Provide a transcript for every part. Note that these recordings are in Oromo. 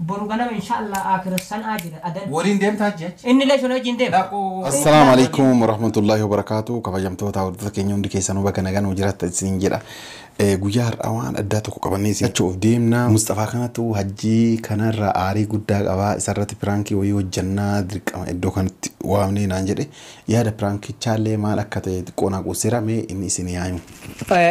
Boru ganama insha Allah Akira san'aa jira adan. Waliin deemtaa hajji achi? Inni illee isin wajjin deema. Dhaquu. Assalaamu alaikum warahmatullahi wabarakaatu kabajamtoota hordota keenya hundi keessanuu baga nagaa nuu jiraattan isiniin jedha Eh, guyyaa har'aa waan addaa tokko qabannee isin achi of deemna Mustafaa kanatu hajjii kanarraa aarii guddaa qabaa isarratti piraankii wayii hojjannaa dirqama iddoo kanatti waamnee naan jedhe yaada piraankichaallee maal akka ta'e xiqqoo naa quuseera mee inni isin yaa'imu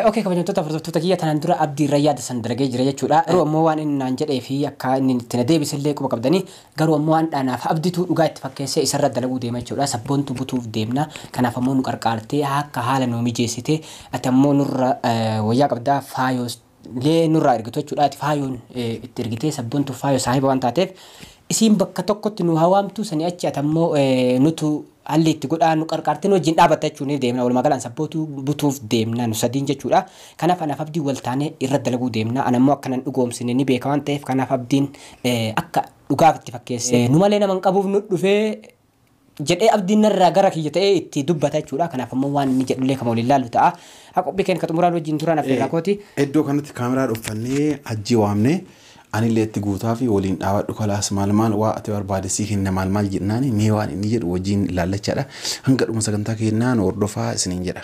Ok kabajamtoota hordoftoota kiyya tanaan dura Abdii irra yaada san dalagee jira jechuudha garuu ammoo waan inni naan jedhee fi akka inni itti na deebise illee quba qabdanii garuu ammoo handhaa naaf Abditu dhugaa itti fakkeessee isarra dalaguu deema jechuudha sabboontu butuuf deemna kanaaf ammoo nu qarqaartee akka haala nuu mijeessitee ati ammoo nurra wayyaa qabda faayoos lee nurraa ergitu jechuudha ati faayoon itti ergitee sabbontu faayo saahiba waan taateef isiin bakka tokkotti nu haa waamtuu sanii achi ati ammoo nutu halli itti godhaa nu qarqaartee nu wajjin dhaabatta jechuun ni deemna walumaa gala an sabbootu butuuf deemna nu sadiin jechuudha kanaaf anaaf abdiin wal taanee irra dalaguu deemna an ammoo akkanan dhugoomsine ni beeka waan ta'eef kanaaf abdiin akka dhugaaf itti fakkeessee nu malee nama hin qabuuf nu dhufee jedhee abdiin narraa gara kiyya ta'ee itti dubbata jechuudha. Kanaaf ammoo waan inni jedhullee kama waliin laallu ta'a. Haa qophii keenya ka xumuraa nu wajjin turaan affeerraa kooti. Iddoo kanatti kaameraa dhuffannee hajjii waamne anillee itti guutaafi waliin dhaabadhu kalaas maal maal waa ati barbaade sii kenna maal maal jennaani mee waan inni jedhu wajjin ilaallachaadha. Hanga dhuma sagantaa keennaa nu hordofaa isiniin jedha.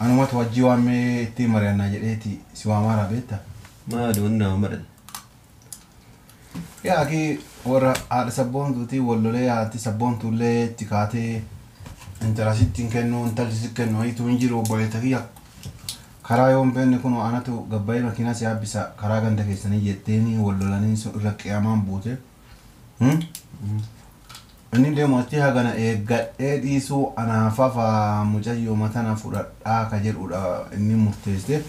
Anumatu hajjii waammee ittiin mari'annaa jedheeti si waamaaraa beetta. Maali wanni nama madhan? Yaa akii warra haadha sabboontuutii wal lolee haati sabboontuullee itti kaatee intala sitti hin kennu intalti sitti kennu wayiitu hin jiru obboleetta kiyya. Karaa yoo hin beekne kunoo anatu gabbayee makiinaa si yaabbisa karaa ganda keessanii jetteeni wal lolanii irra qiyamaan buute. Inni deemu achi hagana eeggadhee dhiisuu anaa fafaa mucayyooma tana fudhadhaa ka jedhuudha inni murteessee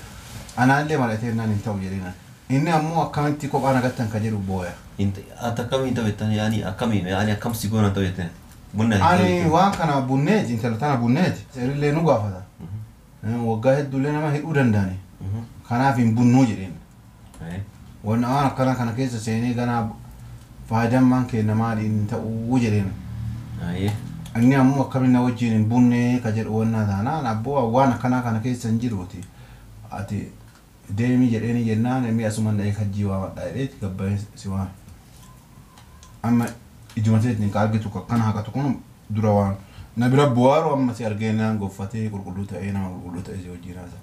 anaallee mari'ateennaan hin ta'u jedheen ani. Inni ammoo akkamitti kophaa na gattan ka jedhu booya. Ati akkam hin ta'u jettaan yaani akkami yaani akkam si goona hin ta'u jetteen bunna hin ta'u jetteen. Ani waan kana bunneeti intala tana bunneeti seerillee nu gaafata waggaa hedduullee nama hidhuu danda'ani kanaaf hin bunnuu jedheen. Wanna waan akkana kana keessa seenee ganaa faayidaan maan keenna maali hin ta'uu jedheen. Inni ammoo akkamiin na wajjiin hin bunnee ka jedhu wannaa taanaan abboo an waan akkanaa kana keessa hin jiruuti ati deemii jedheenii jennaan mee asuman dhaqee hajjii waamadhaa jedheeti gabbayee si waan amma ijuma teetiin ka argitu ka akkana haqatu kun dura waan na bira bu'aaru amma si argeennaan goffatee qulqulluu ta'ee nama qulqulluu ta'ee si wajjiin haasa.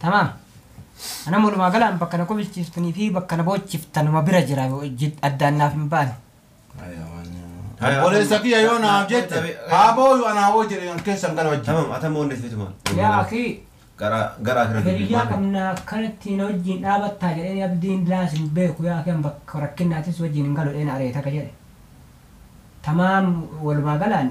Tamaam. Anam walumaa galaan bakka na kobilchiiftuni fi bakka na boochiftan numa bira jira jid- addaan naaf hin baane. Obboleessa kiyya yoo naaf jette haa booyu anaa hoo jedhe an keessan gala wajjin. Tamam ata moonne fituma. Yaa akii Gara gara akira hiriyyaa qabna akkanatti na wajjin dhaabattaa jedheen abdiin daas hin beeku yaa akii an bakka rakkinnaatis wajjin hin galu dheen areeta ka jedhe. Tamaam walumaa galaan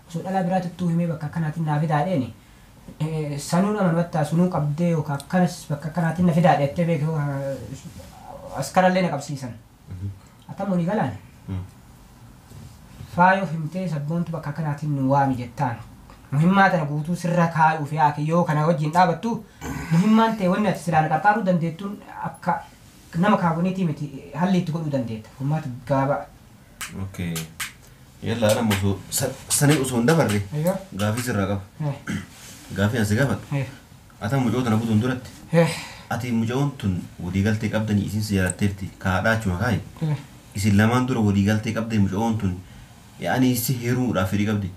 Osoo dhalaa biraati ittuu himee bakka akkanaatiin naa fidaa jedheeni sanuun amanumattaa sunuu qabdee yookaa akkanas bakka akkanaatiin na fidaa jettee beeki hoo askarallee na qabsiisan akkam walii galaan faayoo himtee sabboontu bakka akkanaatiin nu waami jettaan muhimmaa tana guutuu sirra kaayuuf yaake yoo kana wajjin dhaabattu muhimmaan tee wanni ati silaa na qarqaaruu dandeettuun akka nama kaawwaniitii miti halli itti godhuu dandeetta furmaata gaabaa Okay. Yalla ana musu sani usu nda barri. Ayyo. Gafi sirra qab. Eh. Gafi asi gafa. Eh. Ata mujo tana butun durat. Eh. Ati mujon tun wadi galte qabdani isin si yala tirti ka da chuma kai. Eh. Isin laman dura wadi galte qabdani mujon tun yani si hiru da firi qabdi.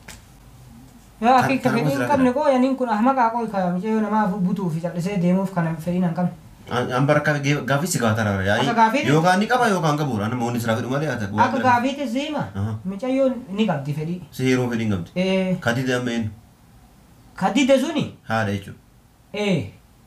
Yaa Kan akii ka tarmuu fedhii hin jiraa qabne kana. qooy aniin kun ahmaqaa qooy ka micayoo namaa afuu butuu fi callisee deemuuf kana fedhiin an qabne. An an bara akka gee- gaafii si gaafatan bara yaa'ii Akka gaafiiti? yookaan ni qaba yookaan qabu bara nama wanni siraa fedhu malee ata waan Akka kana- gaafiitis siima Aha. micayoon ni qabdi fedhii. si heeruma fedhii hin qabdu Ee ka dide amma eenyu ka dide suni haadha jechuudha ee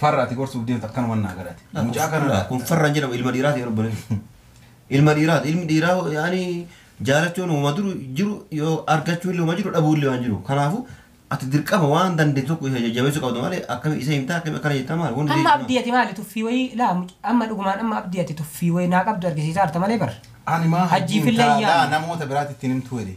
Farra ati gorsuuf deemtu akkanuman naa galate. Laa kun Mucaa farra kanadha. kun farra hin jedhamu ilma dhiiraati yeroo bareedu. Ilma dhiiraati ilmi dhiiraa yaani jaalachuun homa duru jiru yoo argachuu illee homa jiru dhabuu illee waan jiru. Kanaafu ati dirqama waan dandeettu tokko isa jajjabeessuu qabda malee akkami isa himtaa akkami akkana jettaa maali wanni Amma abdii ati maali tuffii wayii laa muc- amma dhugumaan amma abdii ati tuffii wayii naa qabdu argisiisaa jirta malee bar. Ani maa Hajjii hajjiin fillee taa'aa iyyaanne. namoota biraatti ittiin himtuu jedhe.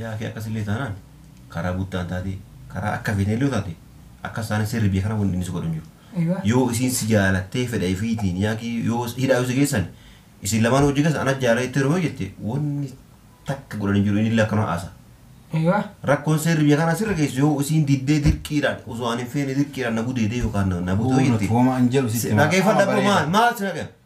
Yaa akii akkas illee taanaan karaa buttaan taate karaa akka feeteen illee yoo taate akkas taanaan seerri biyya kanaa wanni inni si godhu hin jiru. Eywa. Yoo isiin si jaalattee fedha ifiitiin yaa akii yoo hidhaa yoo si geessan isin lamaanuu hojii keessan ana jaalala jettee yeroo yoo jette wanni takka godhan hin jiru inni illee akkanuma haasa. Eywa. Rakkoon seerri biyya kanaa sirra geessu yoo isiin diddee dirqiidhaan osoo ani hin feene dirqiidhaan na gudeedee yookaan na- na bute yoo Kun jette. rakkooma an jedhu sitti himaa. Dhageeffadha Amma bro maal bareeda. maal si dhageef?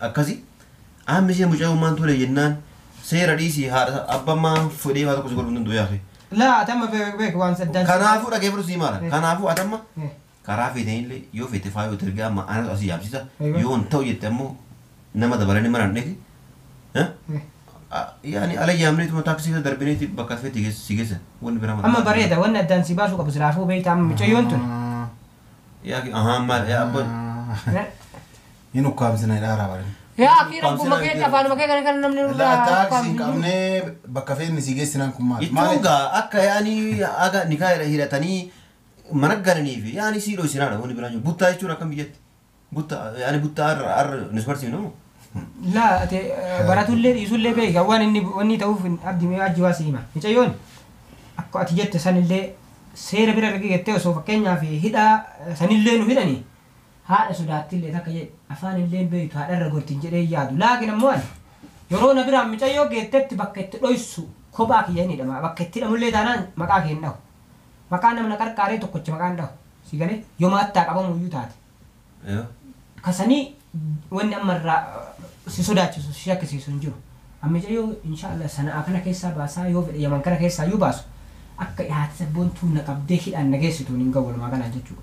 akkasi Amma ishee mucayoo maan tole jennaan seera dhiisii haadha abba maa fudhee waa tokko si godhu hunduu yaake. Laa ati amma beek beek waan saddaan si Kanaafuu maal- dhageeffadhu sii maala. Eh. Kanaafuu ati amma Eh. karaa feetanillee yoo feete faayoo itti ergaa amma anatu asii yaamsisa Egaa. yoo hin ta'u jette ammoo nama dabalanii mana hin dheeti. Eh? Eh. A- Yaani ala yaamneetuma taaksii keessa darbineeti bakka feete geess- si geessan wanni biraa maal- Amma bareeda wanni addaan si baasuu qabu silaafuu beektaa amma mucayyoon tun. Yaa ki- ahaa maal yaa abba Eh. hin ukkaamsina jedhaa raa barin. Yaa akii rabbuma keetti afaanuma kee kana kana namni nurraa Laa ukkaamsu taaksii hin hin jiru. qabnee bakka feenne sii geessinaan kun maali? Jechuun gaa akka yaani haga nikaa hidha- hidhatanii mana galaniifi yaani sii dhoysinaadha wanni biraan jiru. Buttaa jechuun akkam biyyatti? Butta yaani buttaa har'a har'a nus barsiifna moo? Laa ati eh, baratullee dhiisullee beeka waan inni wanni ta'uuf hin- abdi mee hajji waa si hima. Micayyoon akka ati jette sanillee seera bira erga gettee osoo fakkeenyaaf hidhaa eh, sanillee nu hidhani Haadha sodaattillee takka jedhe afaanillee hin beektu haadha irra gorti hin jedhee hin yaadu. Laakiin ammoo ani yeroo na biraan micayyoo geettetti bakka itti dhoyssu kophaa kiyya hin hidha. Bakka itti hidhamullee taanaan maqaa kee hin dhahu. Maqaa nama na qarqaaree tokkocha maqaa hin dhahu. Sii galee? Yoo maattaa qabamuuyyuu taate. Ka sanii wanni amma irraa si sodaachisu si shakkisiisu hin jiru. An micayyoo inshaa Allaah Sana'aa kana keessaa baasaa yoo fedhe Yaman kana keessaayyuu baasu akka haati sabboontuu na qabdee hidhaan na geessituun hin gahu walumaa galaan jechuudha.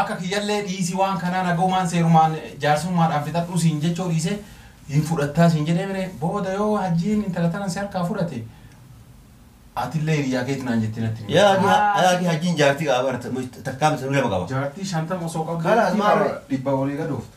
Akka kiyyallee dhiisii waan kanaa nagaumaan seerumaan jaarsummaadhaan fixadhuu siin jechoo dhiisee hin fudhattaa siin jedhee mire booda yoo hajjiin intala tanan si harkaa fudhate atillee hiriyyaa keeti naan jettee natti hin Yaa himtu. ati yaa ati hajjiin jaartii qaba bara takkaa miti nama qaba. Jaartii shantama osoo qabdu Kalaas maal- dhibba olii gad ooftu.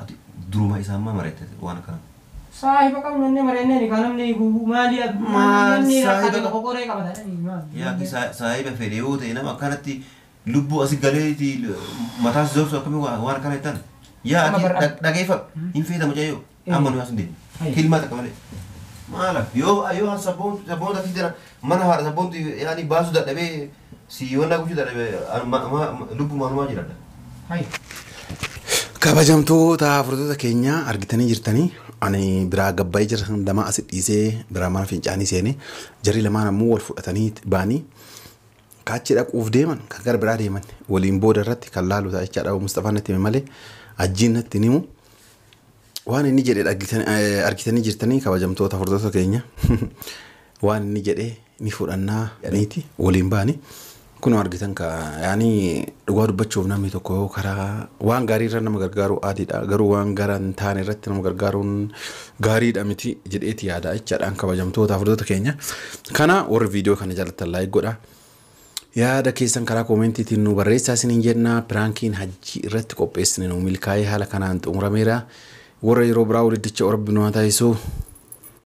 Ati duruma isaan maa mareettete waan akkana. Saahiba qabnu ennee mareennee nikaa namni hiikuufu maali namni rakkate moqoqoree qabata jedhanii maal ijoollee. Yaa akki saahiba fedhe yoo ta'e nama akkanatti lubbuu asi galeeti mataa si zorsu akkami waan akkana jettan. Yaa akki dhageeffadhu hin feeta mucayyoo amma nuyi as hin deemnu. Kilmaa takka malee. Maala yoo yoo sabboontu sabboonota akki jira Mana haadha sabboontu yaani baasu dadhabee si wannaa gochuu dadhabe lubbu maanumaa jiradha. Hai. Kabajamtoota furtoota keenya argitanii jirtanii ani biraa gabbaa'ee jira lamaa asi dhiisee biraa mana fincaanii seene jarri lamaan ammoo wal fudhatanii baanii kaachi dhaquuf deeman kan gara biraa deeman waliin booda irratti kan laalu ta'a jechaadha Mustafaan natti hime malee ajjiin natti hin himu. Waan inni jedhe dhaggitan- eh, argitanii jirtanii kabajamtoota hordoftoota keenya waan inni jedhe ni fudhannaa jedhaniiti waliin baani kunoo argitan ka yaani dhugaa dubbachuuf namni tokko yoo karaa waan gaarii irra nama gargaaruu aadiidha garuu waan gara hin taane irratti nama gargaaruun gaariidha miti jedheeti yaada jechaadhaan kabajamtoota hordoftoota keenya kana warri viidiyoo kana jaallattan laayik godha Yaada keessan karaa koomentiitiin nuu barreessaa isiniin jenna. Piraankiin hajjii irratti qopheessine nuu milkaa'ee haala kanaan xumurameera. Warra yeroo biraa wal iddicha Rabbi nu haa taasisu.